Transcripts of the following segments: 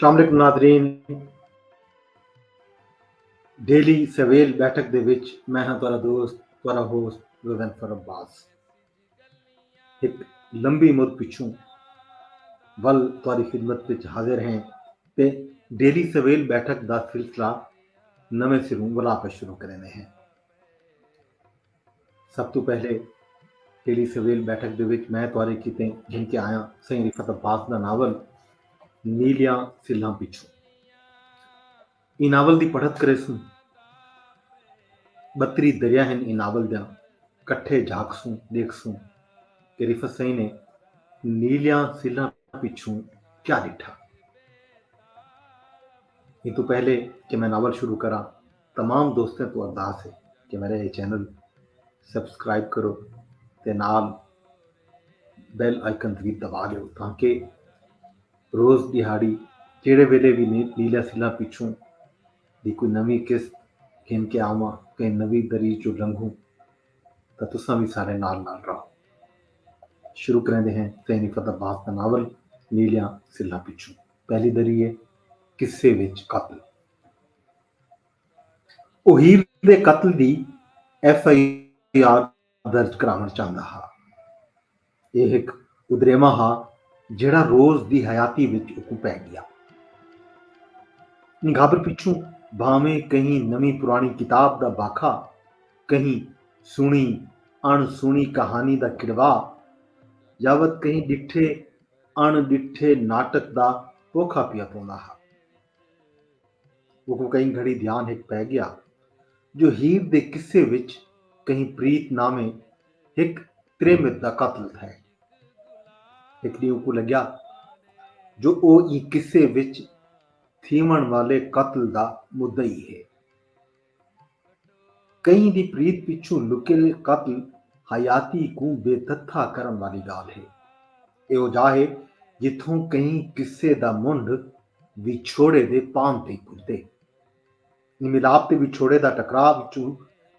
السلام علیکم ناظرین ڈیلی سویل بیٹھک دے وچ میں ہاں تارا دوست تارا ہوست غزن فرم باز ایک لمبی مد پچھوں ول تاری خدمت پچھ حاضر ہیں تے ڈیلی سویل بیٹھک دا سلسلہ نوے سروں ولا پر شروع کرنے ہیں سب توں پہلے ٹیلی سویل بیٹھک دے وچ میں توارے کیتے گھن کے آیاں سائیں رفت عباس دا ناول نیلیاں سلھاں پیچھوں اے ناول دی پڑھت کرے سوں بتری دریا ہن اے ناول دیاں کٹھے جھاک سوں دیکھ سوں کہ رفت سائیں نے نیلیاں سلہ پچھوں کیا ڈٹھا یہ تو پہلے کہ میں ناول شروع کرا تمام دوستیں توں ارداس ہے کہ میرا یہ چینل سبسکرائب کرو تے نال بیل آئیکن بھی دبا دیو تاکہ روز دیہاڑی جیڑے ویلے بھی نیلا سلا پیچھوں دی کوئی نوی قسط گھن کے آواں کہیں نوی دری جو لنگھوں تا تساں بھی سارے نال نال رہو شروع کریں دے ہیں تینی فتح باز کا ناول نیلیاں سلا پیچھوں پہلی دری ہے قصے وچ قتل او ہیر دے قتل دی ایف آئی آر درج کراوݨ چاہندا ہا۔ ایہ ہک ادریمہ ہا جیڑھا روز دی حیاتی وچ اوکوں پئے ڳیا۔ نگھابر پچھوں بھانویں کہیں نویں پراݨی کتاب دا باکھا، کہیں سݨی اݨ سݨی کہانی دا کڑوا یا وت کہیں ݙٹھے اݨ ݙٹھے ناٹک دا پوکھا پیا پوندا ہا۔ اوکوں کہیں گھڑی دھیان ہک پئے گیا جو ہیر دے قصے وچ کہیں پریت ناویں ہک تریمت دا قاتل تھئے۔ ہک ڈینہہ اوکوں لگیا جو او ایں قصے وچ تھیوݨ والے قاتل دا مدعی ہے۔ کہیں دی پریت پچھوں لکیل قتل حیاتی کوں بے تھتھا کرݨ والی ڳالھ ہے۔ ایہو جاہ ہے جتھوں کہیں قصے دا منڈھ وچھوڑے دے پام تے پڄدے۔ ایں ملاپ تے وچھوڑے دا ٹکرا وچوں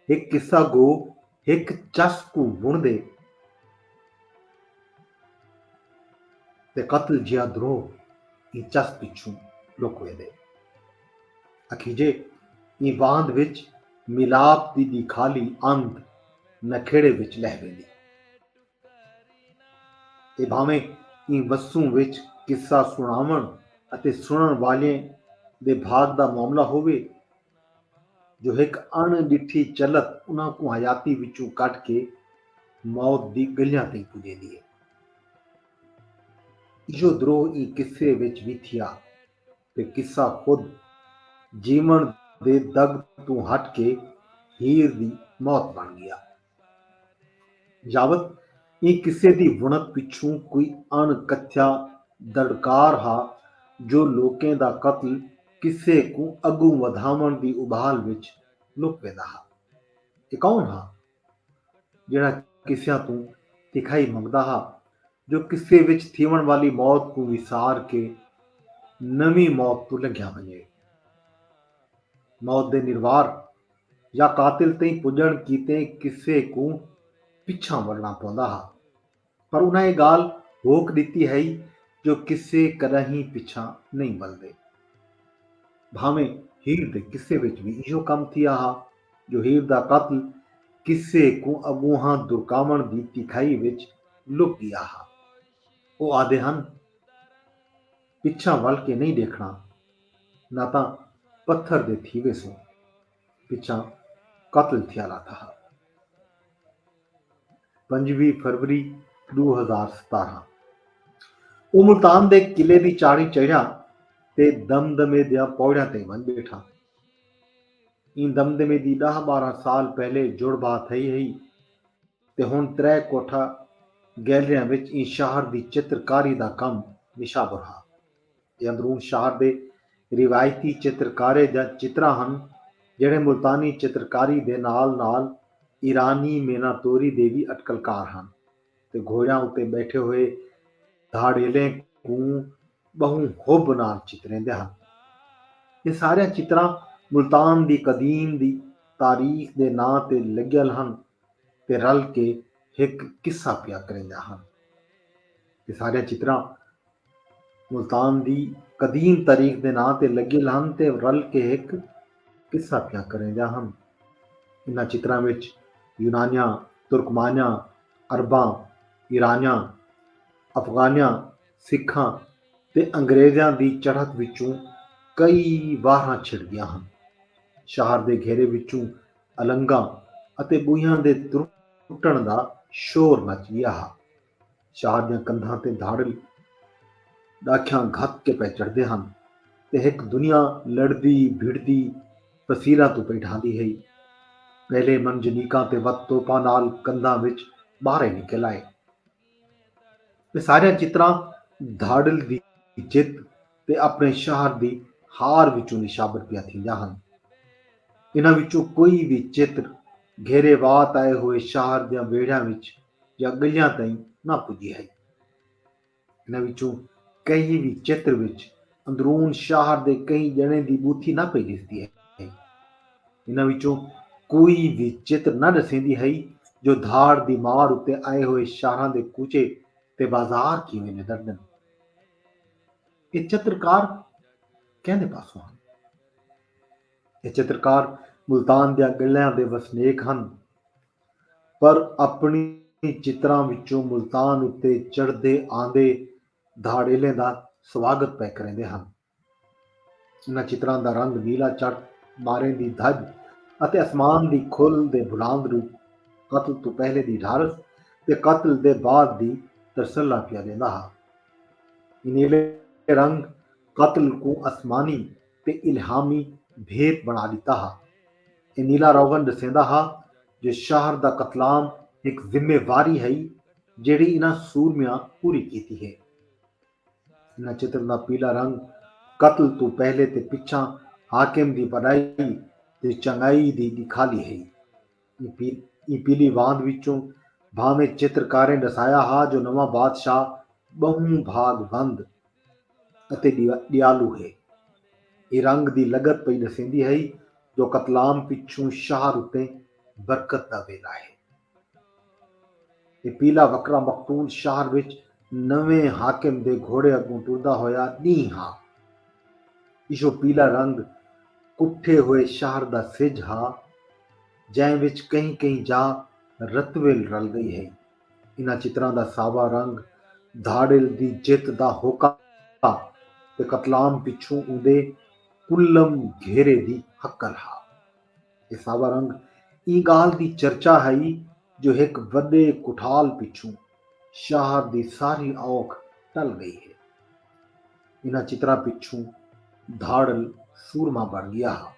ہک قصہ گو ہک چس کوں وݨدے تے قتل جیہا دروہ ایں چس پچھوں لک ویندے۔ اکھیجے ایں واند وچ ملاپ دی ٻی کھالی اندھ نکھیڑے وچ لہہ ویندی اے بھانویں ایں وسوں وچ قصہ سݨاوݨ اتے سݨݨ والیں دے بھاڳ دا معاملہ ہووے جو ہک اݨ ݙٹھی چلت انہاں کوں حیاتی وچوں کڈھ کے موت دی ڳلیاں تئیں پڄیندی اے۔ ایہو دروہ ایں قصے وچ وی تھیا۔ تے قصہ خود جیوݨ دے دڳ توں ہٹ کے ہیر دی موت بݨ ڳیا۔ یاوت ایں قصے دی وݨت پچھوں کوئی اݨ کتھیا دڑکار ہا جو لوکیں دا قتل قصے کوں اڳوں ودھاوݨ دی ابھال وچ لک ویندا ہا۔ اے کون ہا؟ جیڑھا قصیاں توں تکھائی منگدا ہا جو قصے وچ تھیوݨ والی موت کوں وسار کے نویں موت توں لنگھیا ونڄے۔ موت دے نروار یا قاتل تئیں پڄݨ کیتے قصے کوں پچھاں وڑݨا پوندا ہا۔ پر انہاں اے ڳالھ ہوک ݙتی ہئی جو قصے کݙاہیں پچھاں نئیں ولدے۔ بھانویں ہیر دے قصے وچ وی ایہو کم تھیا ہا جو ہیر دا قاتل قصے کوں اڳونہاں درکاوݨ دی تکھائی وچ لک ڳیا ہا۔ او آہدے ہن پچھاں ول کے نئیں ݙیکھݨا نہ تاں پتھر دے تھی ویسوں۔ پچھاں قتل تھیا لاتا ہا۔ پنجوی فروری ݙو ہزار ستارھاں اوں ملتان دے قلعے دی چاڑھی چڑھیاں تے دم دمے دیاں پوڑیاں تئیں ونڄ ٻیٹھا۔ ایں دم دمے دی ݙاہ ٻارھاں سال پہلے جڑ بھا تھئی ہئی۔ تے ہن ترے کوٹھا گیلریاں وچ ایں شہر دی چتر کاری دا کم نشابر ہا۔ اے اندرون شہر دے روایتی چتر کارے دیاں چتراں ہن جیڑھے ملتانی چتر کاری دے نال نال ایرانی مینا توری دے وی اٹکل کار ہن تے گھوڑیاں اتے ٻیٹھے ہوئے دھاڑیلیں کوں ٻہوں حب نال چتریندے ہن۔ اے ساریاں چتراں ملتان دی قدیم دی تاریخ دے ناں تے لڳیل ہن تے رل کے ہک قصہ پیا کریندا ہن۔ اے ساریاں چتراں ملتان دی قدیم تاریخ دے ناں تے لگیل ہن تے رل کے ہک قصہ پیا کریندیاں ہن۔ انہاں چتراں وچ یونانیاں، ترکمانیاں، عرباں، ایرانیاں، افغانیاں، سکھاں تے انگریزیاں دی چڑھت وچوں کئی واہراں چھڑدیاں ہن۔ شہر دے گھیرے وچوں النگاں اتے ٻوہیاں دے ترٹݨ دا شور مچ ڳیا ہا۔ شاہ دیاں کندھاں تے دھاڑل ݙاکھیاں گھت کے پئے چڑھدے ہن تے ہک دنیا لڑدی بھڑدی تفصیلاں توں پئے ڈھاندی ہئی۔ پہلے منجنیقاں تے وت توپاں نال کندھاں وچ ٻارے نکل آئے۔ تے ساریاں چتراں دھاڑل دی جت تے اپݨے شہر دی ہار وچوں نشابر پیاں تھیندیاں ہن۔ انہاں وچوں کوئی وی چتر گھیرے وات آئے ہوئے شہر دیاں ویڑھیاں وچ یا ڳلیاں تئیں نہ پڄی ہئی۔ انہاں وچوں کہیں وی چتر وچ اندرون شہر دے کہیں ڄݨیں دی ٻوتھی نہ پئی ݙسدی ہئی۔ انہاں وچوں کوئی وی چتر نہ ݙسیندی ہئی جو دھاڑ دی مار اتے آئے ہوئے شہراں دے کوچے تے بازار کیویں ندردن۔ اے چترکار کیندے پاسوں ہن؟ اے چترکار ملتان دیاں ڳلیاں دے وسنیک ہن۔ پر اپݨیں چتراں وچوں ملتان اتے چڑھدے آندے دھاڑیلیں دا سواگت پئے کریندے ہن۔ انہاں چتراں دا رنگ نیلا چٹ، ٻاریں دی دھڄ اتے اسمان دی کھل دے بھلاند روپ قتل توں پہلے دی ڈھارس تے قتل دے بعد دی ترسلا پیا ݙیندا ہا۔ ایں نیلے رنگ قتل کوں اسمانی تے الہامی بھیت بݨا ݙتا ہا۔ اے نیلا روغن ݙسیندا ہا جو شہر دا قتلام ہک ذمہ واری ہئی جیڑھی انہاں سورمیاں پوری کیتی ہے۔ انہاں چتر دا پیلا رنگ قتل توں پہلے تے پچھاں حاکم دی وݙائی تے چنڳائی دی ݙکھالی ہئی۔ ایں پیلی واند وچوں بھانویں چتر کاریں ݙسایا ہا جو نواں بادشاہ ٻہوں بھاڳ وند اتے ݙیالو ہے۔ ایں رنگ دی لڳت پئی ݙسیندی ہئی جو قتلام پچھوں شہر اتے برکت دا ویلھا ہے۔ تے پیلا وکرا مقتول شہر وچ نویں حاکم دے گھوڑے اگوں ٹردا ہویا ݙینہہ ہا۔ ایہو پیلا رنگ کٹھے ہوئے شہر دا سجھ ہا جئیں وچ کہیں کہیں جا رتویل رل ڳئی ہئی۔ انہاں چتراں دا ساوا رنگ دھاڑیل دی جت دا ہوکا تے قتلام پچھوں اوندے کلم گھیرے دی ہکل ہا۔ اسابا رنگ ایں گالھ دی چرچا ہئی جو ہک وڈے کٹھال پچھوں شاہر دی ساری اوکھ ٹل گئی ہے۔ انہاں چتراں پچھوں دھاڑل سورما بن گیا ہا۔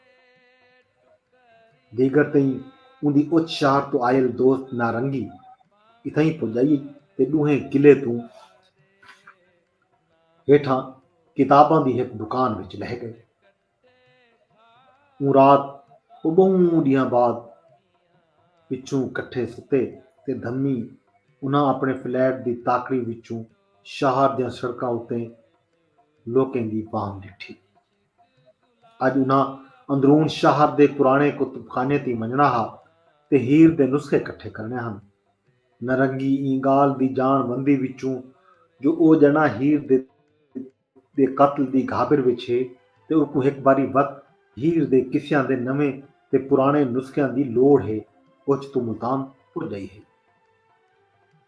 دیگر تئیں اوندی اچ شاہر توں آئل دوست نارنگی اتھائیں پجائی تے ڈوہیں قلعے توں ہیٹھاں کتاباں دی ہک دکان وچ لہہ گئے۔ اوں رات او ٻہوں ݙینہاں بعد پچھوں کٹھے ستے تے دھمی انہاں اپݨے فلیٹ دی تاکڑی وچوں شہر دیاں سڑکاں اتے لوکیں دی بھانگ ݙٹھی۔ اڄ انہاں اندرون شہر دے پراݨے کتب خانے تئیں ونڄݨا ہا تے ہیر دے نسخے کٹھے کرݨے ہن۔ نرنگی ایں ڳالھ دی ڄاݨ وندی وچوں جو او ڄݨاں ہیر دے دے قتل دی گھاگر وچ ہے تے اوکوں ہک باری وت ہیر دے قصیاں دے نویں تے پراݨے نسخیاں دی لوڑھ ہے اوچ توں ملتان پڄ ڳئی ہے۔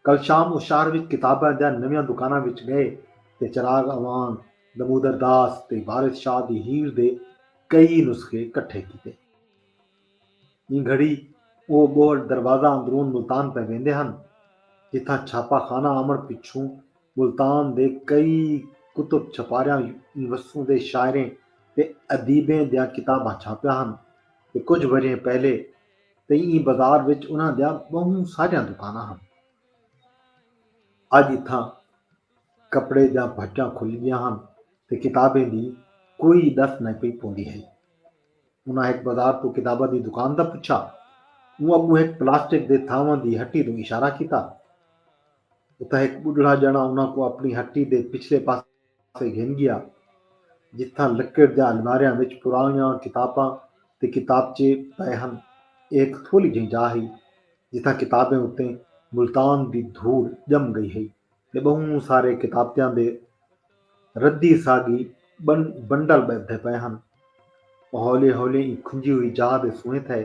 کل شام او شہر وچ کتاباں دیاں نویاں دکاناں وچ ڳئے تے چراغ اعوان، دمودر داس تے وارث شاہ دی ہیر دے کئی نسخے کٹھے کیتے۔ ایں گھڑی او ٻوہڑ دروازہ اندرون ملتان پئے ویندے ہن جتھاں چھاپہ خانہ آوݨ پچھوں ملتان دے کئی کتب چھپاریاں یونیورسوں دے شاعریں تے ادیبیں دیاں کتاباں چھاپیاں ہن تے کجھ ورھیں پہلے تئیں ایں بازار وچ انہاں دیاں ٻہوں ساریاں دکاناں ہن۔ اڄ اتھاں کپڑے دیاں بھٹیاں کھل ڳیاں ہن تے کتابیں دی کوئی ݙس نئیں پئی پوندی ہئی۔ انہاں ہک بازار توں کتاباں دی دکان دا پچھا۔ اوں اڳوں ہک پلاسٹک دے تھاواں دی ہٹی توں اشارہ کیتا۔ اتھاں ہک ٻڈھڑا ڄݨا انہاں کوں اپݨی ہٹی دے پچھلے پاسے گھن ڳیا، جتھاں لکڑ دیاں الماریاں وچ پراݨیاں کتاباں تے کتابچے پئے ہن۔ ایہ ہک تھولی جہیں جاہ ہئی، جتھاں کتابیں اتے ملتان دی دھوڑ ڄم ڳئی ہئی۔ تے ٻہوں سارے کتابتیاں دے ردی ساڳی بنڈل ٻدھدے پئے ہن۔ او ہولے ہولے ایں کھنجی ہوئی جاہ دے سوئیں تھئے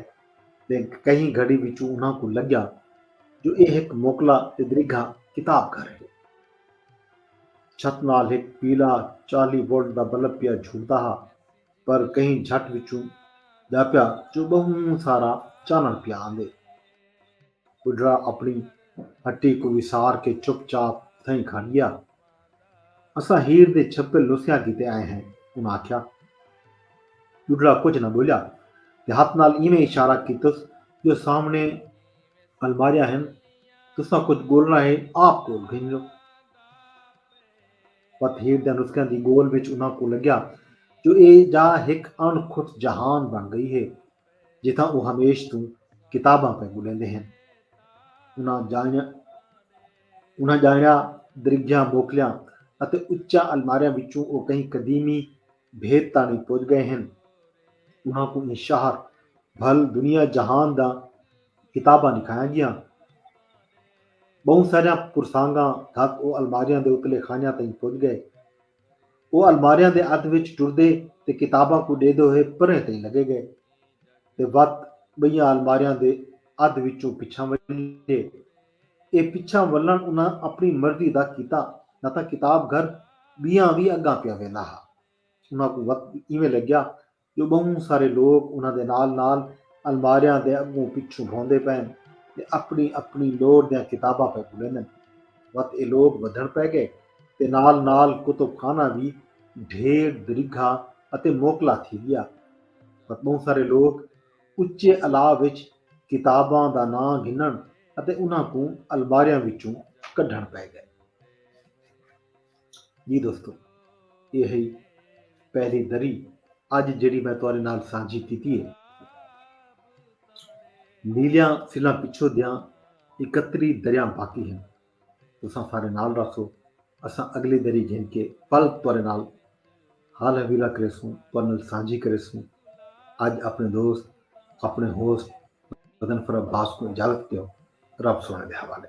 تے کہیں گھڑی وچوں انہاں کوں لڳیا جو ایہ ہک موکلا تے دریگھا کتاب گھر ہے۔ چھت نال ہک پیلا چالی وولٹ دا بلب پیا جھلدا ہا پر کہیں جھٹ وچوں ڄاپیا جو ٻہوں سارا چانݨ پیا آندے۔ ٻڈھڑا اپݨی ہٹی کوں وسار کے چپ چاپ تھئیں کھڑ ڳیا۔ اساں ہیر دے چھپل نسخیاں کیتے آئے ہیں، انہاں آکھیا۔ ٻڈھڑا کجھ نہ ٻولیا تے ہتھ نال اینویں اشارہ کیتس جو سامݨے الماریاں ہن، تساں کجھ ڳولݨا ہے آپ ڳول گھن لو۔ پت ہیر دیاں نسخیاں دی ڳول وچ انہاں کوں لڳیا جو ایہ ڄاہ ہک اݨ کھٹ جہان بݨ ڳئی ہے۔ جتھاں او ہمیش توں کتاباں پئے ٻݙیندے ہن۔ انہاں جائنیاں انہاں جائنیاں درگھیاں موکلیاں اتے اچیاں الماریاں وچوں او کہیں قدیمی بھیت تاݨی پڄ ڳئے ہن۔ انہاں کوں ایں شہر بھل دنیا جہان داں کتاباں ݙکھایاں ڳیاں۔ ٻہوں ساریاں پرسانگاں دھک او الماریاں دے اتلے خانیاں تئیں پڄ ڳئے۔ او الماریاں دے ادھ وچ ٹردے تے کتاباں کوں ݙیندے ہوئے پرہیں تئیں لڳے ڳئے تے وت ٻئیاں الماریاں دے ادھ وچوں پچھاں ولھیے۔ اے پچھاں ولھݨ انہاں اپݨی مرضی دا کیتا نہ تاں کتاب گھر ٻیاں وی اڳاں پیا ویندا ہا۔ انہاں کوں وت ایویں لڳیا جو ٻہوں سارے لوک انہاں دے نال نال الماریاں دے اڳوں پچھوں بھوندے پئن تے اپݨی اپݨی لوڑھ دیاں کتاباں پئے ڳھلیندن۔ وت ایہ لوک ودھݨ پئے ڳئے تے نال نال کتب خانہ وی ڈھیر درگھا اتے موکلا تھی ڳیا۔ وت ٻہوں سارے لوک اچے الا وچ کتاباں دا ناں گھنݨ اتے انہاں کوں الماریاں وچوں کڈھݨ پئے ڳئے۔ جی دوستو یہ ہے پہلی دری اج جڑی میں تارے نال سانجھی کیتی ہے نیلیاں سلا پچھو دیاں اکتری دریاں باقی ہیں تساں سارے نال رکھو اساں اگلی دری گھن کے پل تارے نال حال حویلا کرے سوں تارے نال سانجھی کرے سوں اج اپنے دوست اپنے ہوسٹ بدن فرا باس کو اجازت دیو رب سونے دے حوالے